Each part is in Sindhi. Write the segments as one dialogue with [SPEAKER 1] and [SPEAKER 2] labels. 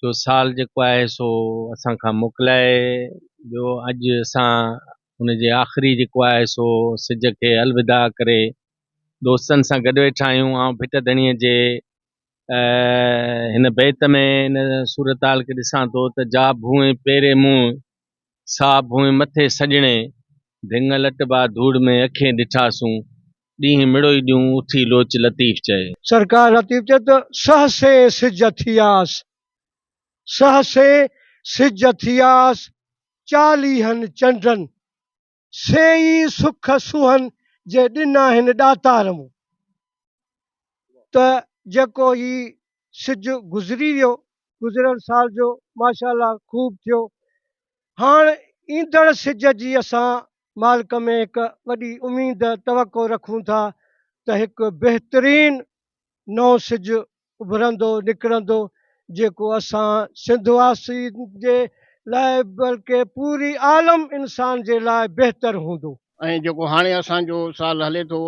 [SPEAKER 1] جو سال جيڪو آهي سو اسان کان موڪلائي ويو اڄ اسان ان جي آخري جيڪو آهي سو سج کي الوداع ڪري دوستن سان گڏ ويٺا آهيون آئون ڀٽ ڌڻيء جي هن بيت ۾ ان صورتحال کي ڏسان ٿو ته جا ڀونء پيري منهن سا ڀونء مٿي سڄڻي ڀينگ لٽبا ڌوڙ ۾ اکين ڏٺاسون ڏينهن مڙوئي ڏيون اٿي لوچ لطيف چئي. سرڪار لطيف چئي
[SPEAKER 2] ته سهسي سج اٿياس سهسي سج اٿياس چاليهن چنڊن سي ئي سک سونهن جي ڏنا هن ڏاتار مون ته جيڪو هي سج گذري ويو گذريل سال جو ماشاءالله خوب ٿيو هاڻ ايندڙ سج جي اسان مالڪ ۾ هڪ وڏي اميد توقع رکون ٿا ته هڪ بهترين نئون سج اڀرندو نڪرندو جيڪو اسان سنڌ واسين جي لاء بلڪه پوري عالم انسان جي لاء بهتر هوندو. ۽ جيڪو هاڻي
[SPEAKER 3] اسان جو سال هلي ٿو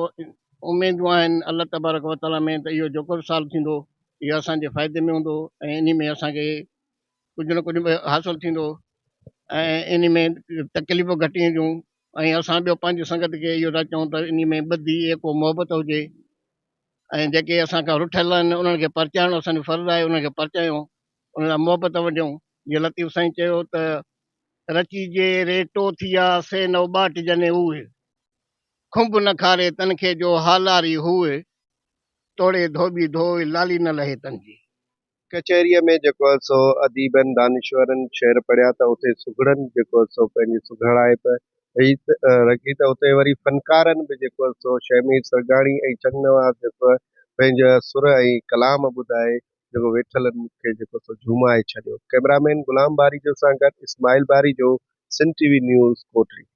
[SPEAKER 3] اميدون آهن الله تبارڪ وتعاليٰ ۾ ته اهو جيڪو به سال ٿيندو اهو اسان جي فائدي ۾ هوندو ۽ انهي ۾ اسان کي ڪجهه نه ڪجهه حاصل ٿيندو ۽ ان ۾ تڪليفون گهٽ اينديون ۽ اسان ٻيو پنهنجي سنگت کي اهو ٿا چئون ته ان ۾ ٻڌي ايڪو محبت هجي ۽ جيڪي اسان کان رٺل آهن انهن کي پرچائڻو اسان جو فرض آهي انهن کي پرچايون انهن لاء محبت ونڊيون جي لطيف سائين چيو ته رچي جي ريٽو ٿيا سي نو ٻاٽ جني اوهي کنڀ نه کاري تن کي جو هالاري هوئي توڙي ڌوٻي ڌوئي لالي نه لهي تن جي ڪچهريء
[SPEAKER 4] ۾ جيڪو هئس سو اديبن، دانشورن شعر پڙهيا ته اتي سگهڙن جيڪو هئس سو پنهنجي سگهڙائپ رکي ته اتي وري فنڪارن به جيڪو هئس سو شهمير سرگاڻي ۽ چنگ نواز جيڪو هئس پنهنجا سر ۽ ڪلام ٻڌائي جيڪو ويٺلن کي جيڪو سو جهومائي ڇڏيو. ڪئميرا مين غلام باريجو سان گڏ Ismail Barejo, Sindh T V news, Kotri.